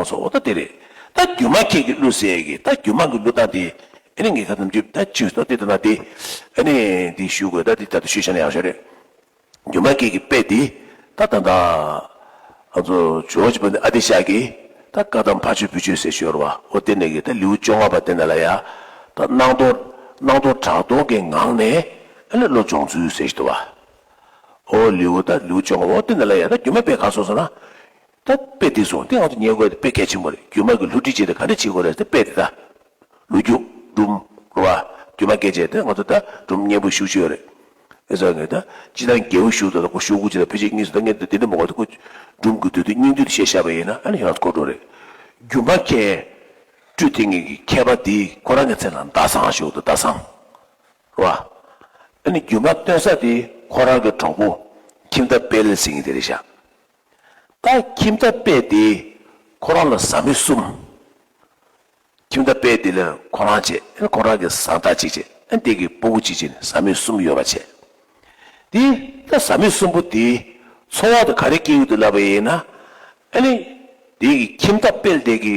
ཨོ་སོ་ཨོ་ད་དེ་རེད། ད་རྒྱུ་མ་ཁྱེད་ཀྱིས་བསླུ་ཟེར་ཡས་ཀྱི་ད་རྒྱུ་མ་གི་བསླུ་སྟངས་དེ། ཨེ་ནས་ངའི་ཁ་ཙམ་ཅིག་ད་ཅིག་སོ་དེ་ལྟ་ན་དེ། ཨེ་ནས་དེ་ཞུ་དགོས་ད་དེ་ད་དུ་ཞུས་ཤ་ན་ཡག་ཤོས་རེད། རྒྱུ་མ་ཁྱེད་ཀྱིས་དཔེ་དེ། ད་ད་ད། ཨ་ཙོ་ཇོ་བོ་ཅིག་པ་ནི་ཨ་དེ་ཤག་གིས། ད་བཀའ་གདམས་ཕ་ཆོས་བུ་ཆོས་ཟེར་ཞོར་བ་ཨོ་དེ་ནས་ཀྱི་ད་ལེའུ་བཅོ་ལྔ་པ་དེ་ན་ལ་ཡ། ད་སྣང་སྟོང། སྣང་སྟོང་གྲགས་སྟོང་གི་ངང་ནས། ཨེ་ལེ་བློ་སྦྱོང་ཚུལ་ཟེར་བཞིན་དུ་བ། ཨོ་ལེའུ་ད་ལེའུ་བཅོ་ལྔ་པ་ཨོ་དེ་ན་ལ་ཡ་ད་རྒྱུ་མ་དཔེ་ག་སོ་ཟེར་ན། ད་དཔེ་འདི་བཟུང་སྟེ་ང་ཚོ་ཉན་དགོས་ཏེ་དཔེ་གལ་ཆེན་པོ་རེད་རྒྱུ་མ་གི་ལྷུ་སྒྲིལ་བྱས་ཏེ་ག་འདྲ་བྱེད་དགོས་རེད་ད་དཔེ་འདི་ད། ལུ་རྒྱུ། སྦྲུམ། བ། རྒྱུ་མ་སྐད་བྱས་ཏེ་ང་ཚོ་ད་སྦྲུམ་སྙན་པོ་ཞུགས་ཆོད་ཡོད་རེད། ཨེ་ཟ་ངེ་ད་ཅི་ད་འགྱེལ་བོ་ཞུགས་འདུག་ད་ཁོ་ཞུགས་དགོས་ཅི་ད་ཕལ་ཆེར་གཉིས་སུ་ད་ངེ་ད་འདི་འདྲ་མི་གོ་ད་ཁོ། སྦྲུམ་དགོས་དུས་དེ་སྙིང་དུས་དེ་བཤད་ཤ་བ་ཡིན་ན་ཨ་ནི་ཡང་ཁོ་འགྲོ་རེད། རྒྱུ་མ་མཁས། སྤྲུལ་དེ་ངེད་ཀྱི་མཁས་པ་འདིས་ཁོ་རང་གི་མཚན་ལ་མདའ་བཟང་ཞུགས་འདུག་མདའ་བཟང། བ། ཨ་ནི་རྒྱུ་མ་སྟོན་ས་དེ་ཁོ་རང་གི་གྲོགས་པོ། ཁྱིམ་ཐབ་དཔལ་ལེ་སིང་གི་དེ་རེད་ཤག། ད་ཁྱིམ་ཐབ་པད་དེ་ཁོ་རང་ལ་བཟའ་མི་གསུམ། ཁྱིམ་ཐབ་པད་དེ་ལ་ཁོ་རང་བྱས་ཨེ་ཁོ་རང་གི་བཟའ་ཟླ་གཅིག་བྱས་ཨེ་འདས་ཀྱི་སྤོ་བོ་གཅིག་བྱས་ནས་བཟའ་མི་གསུམ་ཡོད་པ་བྱས། དེ་ད་བཟའ་མི་གསུམ་པོ་དེའི་འཚོ་བ་དེ་ག་རེ་སྐྱེལ་ཡོད་དུ་ལབ་པ་ཡིན་ན་ཨེ་ལེ་འདས་ཀྱི་ཁྱིམ་ཐབ་པད་དེ་གི་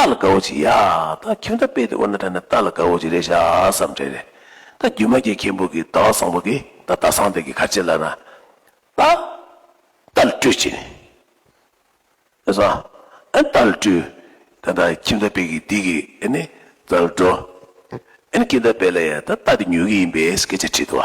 རྟ་ལ་དགའ་བོ་ཅིག་ཡ། ད་ཁྱོད་ད་དཔེ་དེ་དབེན་ན་དྲན་ནས་རྟ་ལ་དགའ་བོ་ཅིག་རེ་བྱ་བསམ་དྲན་རེ། ད་རྒྱུ་མ་སྐྱེས་མཁན་པོ་གིས་ཟླ་བ་བཟང་པོ་གིས་ད་རྟ་བཟང་དེ་གི་ཁ་ཕྱེ་ལ་ན། རྟ། རྟ་ལ་སྤྲུལ་ཅིག། ཨེ་བཟང། ཨེ་རྟ་ལ་སྤྲུལ། ད་ད་ཁྱིམ་ད་དཔེ་གིས་འདི་གི་ཨེ་ནི་རྩ་བ་འགྲོ། ཨེ་ནི་ཁྱིམ་ད་དཔེ་ལ་ཡང་ད་རྟ་དེ་ཉོ་གི་ཡིན་པས་སྐད་ཆ་དྲིས་ཏོ།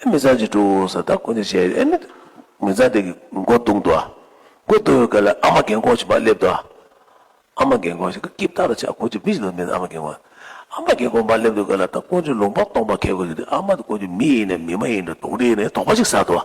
ཨེ་མི་ཚང་གཅིག་དྲུག་ཨོ་ས་ད་ཀུན་ནས་བྱས་ཨེ་མི། མི་ཚང་དེ་གི་མགོ་བཏུང་འདུག་ཨ། མགོ་བཏུང་བའི་སྐབས་ལ་ཨ་མ་རྒན་གོག་ཅིག་བ་སླེབས་འདུག་ཨ། ཨ་མ་རྒན་གོག་ཞིག་གི་སྐྱིབས་ཐག་ལ་ཆགས་ཁོ་ཅིག་མི་ཞིག་ལ་མེད་ཨ་མ་རྒན་གོག། ཨ་མ་རྒན་གོག་བ་སླེབས་འདུག་སྐབས་ལ་ད་ཀུན་ཅིག་ལུང་པ་སྟོང་པ་ཁད་གོ་ལེ་དེ་ཨ་མ་ད་ཀུན་ཅིག་མི་ཡིན་ནས་མི་མ་ཡིན་དུ་དུང་རི་ནས་དོག་པ་ཅིག་ཟ་འདུག་ཨ།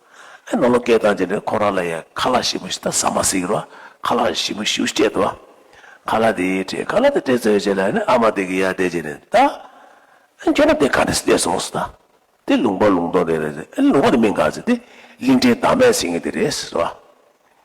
ཨེ་ནོ་ལོ་སྐད་གདངས་ཅན་པས་ཁོ་རང་ལ་ཡང་ཁ་ལག་ཞིམ་པོ་ཞིག་དང་ཟ་མ་ཟིག་རོ། ཁ་ལག་ཞིམ་པོ་ཞིག་སྤྱད་དོ། ཁ་ལག་དེ་སྤྲད། ཁ་ལག་དེ་སྤྲད་ཚོད་བྱས་ལ་ཨ་མ་དེ་གི་ཡར་བལྟས་རྗེས་ནས། ད། ཁྱོད་རང་དེ་ག་རེ་བལྟས་སོང་ཟེར། དེ་ལུང་པ་ལུང་སྟོང་རེད་རེད། ལུང་པ་དེ་མིན་ག་ཟེར། དེ་གླིང་ཕྲན་དར་མས་བྱེད་ངེས་དེ་རེད་ཟེར།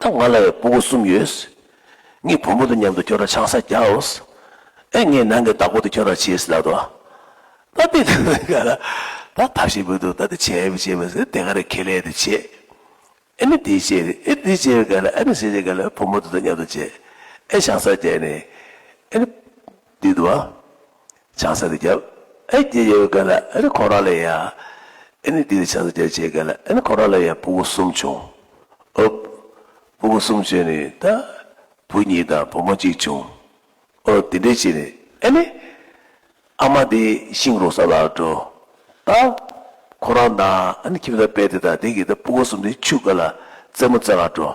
ད་ང་ལ་བའི་སྤུ་གུ་གསུམ་ཡོད། ངས་བུ་མོ་དང་མཉམ་དུ་ཁྱོད་ལ་ཆང་ས་རྒྱག་འོས། ཨེ་ངས་ནང་གི་བདག་པོ་དེ་ཁྱོད་ལ་བྱས་ཟེར་ལབ་དོ། ད་དེ་ལྟར་ན་ག་ལ། ད་ཐབས་ཤིག་མི་འདུག་ད་དེ་བྱས་མི་བྱས་མི་ཟེར་དེ་ག་རེ་ཁེ་ལས་དེ་བྱས། ཨེ་ནི་དེ་བྱས། ཨེ་དེ་བྱས་པས་ག་ལ་ཨེ་ནི་བྱས་བྱས་ག་ལ་བུ་མོ་དེ་དང་མཉམ་དུ་བྱས། ཨེ་ཆང་ས་རྒྱག་ནས། ཨེ་ནི། འདི་འདུག། ཆང་ས་རེ་བརྒྱབ། ཨེ་འདི་ཡོད་མཁན་ལ་ཨེ་ནི་ཁོང་རང་ལ་ཡིན་ཨ། ཨེ་ནི་འདི་ནི་ཆང་ས་བརྒྱབ་བྱེད་མཁན་ལ་ཨེ་ནི་ཁོང་རང་ལ་ཡིན་སྤུ་གུ་གསུམ་བྱུང། ཨུབ། སྤུ་གུ་གསུམ་བྱུང་ནས་ད། བུ་གཉིས་དང་བུ་མོ་གཅིག་བྱུང། ཨོ་དེ་འདྲས་བྱས་ནས་ཨེ་ནི། ཨ་མ་འདི་ཤིང་རོ་ས་ལ་འགྲོ། ད། ཁོང་རང་དང་ཨེ་ནི་ཁྱིམ་ཚང་དཔལ་དེ་དང་དེ་གིས་ད་སྤུ་གུ་གསུམ་འདི་ཕྱུགས་ཀ་ལ་རྩེད་མོ་རྩེ་ག་འགྲོ།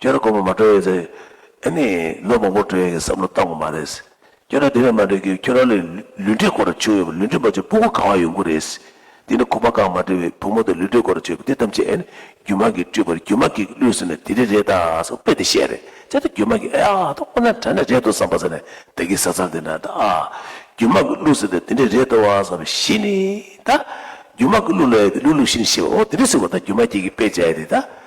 ཁྱོད་ར་སྒོར་མོ་མ་སྤྲོད་ཡོད་ཚེ། ཨེ་ནས་ལོ་མང་པོར་སྤྲོད་ཡོད་ཀྱི་བསམ་བློ་བཏང་བ་མ་རེད། ཁྱོད་ར་དེ་བས་མ་འགྲིག་གི་ཁྱོད་ར་ལས་ལུས་འབྲེལ་སྐོར་ར་བྱུང་ཡོད་པ་ལུས་འབྲེལ་མ་བྱུང་སྤུ་གུ་གང་བ་ཡོང་གི་རེད། དེ་ནས་ཁུ་བ་གང་མ་བྲིས་བའི་བུ་མོ་དེ་ལུས་འབྲེལ་སྐོར་ར་བྱུང་ཡོད་པ་དེ་ཐམས་ཅད་ཨེ་ནས་རྒྱུ་མ་གིས་བཀྲུས་པར་རྒྱུ་མ་གིས་བླུས་ཟེར་ནས་དེ་རི་རེད་ད་ཟེར་དཔེ་དེ་བཤད་རེད་བྱས་ད་རྒྱུ་མ་གིས་ཨེ་ཨ་ད་ཁོ་ན་དྲན་ན་རེད་འདུག་བསམ་པ་ཟེར་ནས་བདག་གིས་ཟ་ཚར་དེ་ན་ད་ཨ། རྒྱུ་མ་གིས་བླུས་ཟེར་ཏེ་དེ་འདྲས་རེད་འདུག་བསམ་པ་བཞི་ནས་ད། རྒྱུ་མ་གིས་བླུས་ལ་ཡོད་དེ་བླུས་བླུས་བཞི་ནས་བཤད་པ་འོ་དེ་འདྲས་ཟེར་བ་ད་རྒྱུ་མ་གྱིས་གིས་དཔེ་བྱས་ཏེ་ད།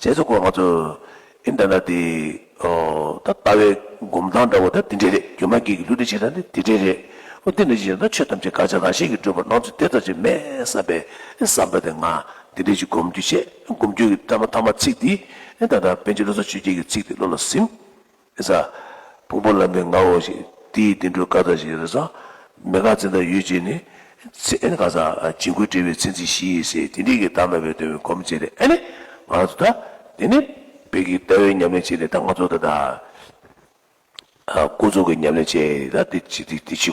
རྗེས་སུ་ཁོང་ང་ཚོར་ཨིན་ད་ན་དེ། ད་ལྟ་བའི་སྒོམ་སྟངས་འདྲ་བོ་དེ་དེ་འདྲས་རེད་རྒྱུ་མ་སྐྱེས་ཀྱི་ལུས་འདི་བྱེད་སྟངས་དེ་དེ་འདྲས་རེད། ཨོ་དེ་འདྲས་བྱེད་ན་ཆོས་ཐམས་ཅད་དགག་བྱ་གང་ཤེས་ཀྱི་སྤྲོས་པ་སྣང་ཚུལ་དེ་ཙམ་ཞིག་མེད་བསམ་པའི་བསམ་པ་དེ་ང་དེ་འདྲས་ཅིག་སྒོམ་རྒྱུ་བྱས་སྒོམ་རྒྱུ་གྱི་ཐ་མ་ཐ་མ་ཚིག་འདི་ད་ལྟ་པན་ཆེན་བློ་བཟང་ཆོས་རྒྱལ་གྱི་ཚིག་དེ་བློ་ལ་ཟིན། ཨེ་ཟ། ཕུང་པོ་ལམ་པའི་ངག་འོག་ཞིག། འདི་ཡི་བསྟན་འགྲོའི་བཀའ་ལྟར་ཞིག་རེ་ཟ། མེད་དགག་འཛིན་དང་ཡུལ་བཅས་ནི། ཚེ་གང་ཟག། བྱིང་རྒོད་བྲལ་བའི་ཚེ་འཛིན་བཞི་ཡིས་ཟེར་དེ་འདྲིས་ཀྱི་བདག་མེད་པའི་དོན་མི་གོམས་བྱས་ཏེ་ཨེ་ནི། ང་རང་ཚོ་ད། དེ་ནི། བོད་ཀྱི་ལྟ་བའི་ཉམས་ལེན་བྱས་ནས་ད་ང་ཚོ་ད། ཀུན་རྫོབ་ཀྱི་ཉམས་ལེན་བྱས། ད་འདི་ཕྱི།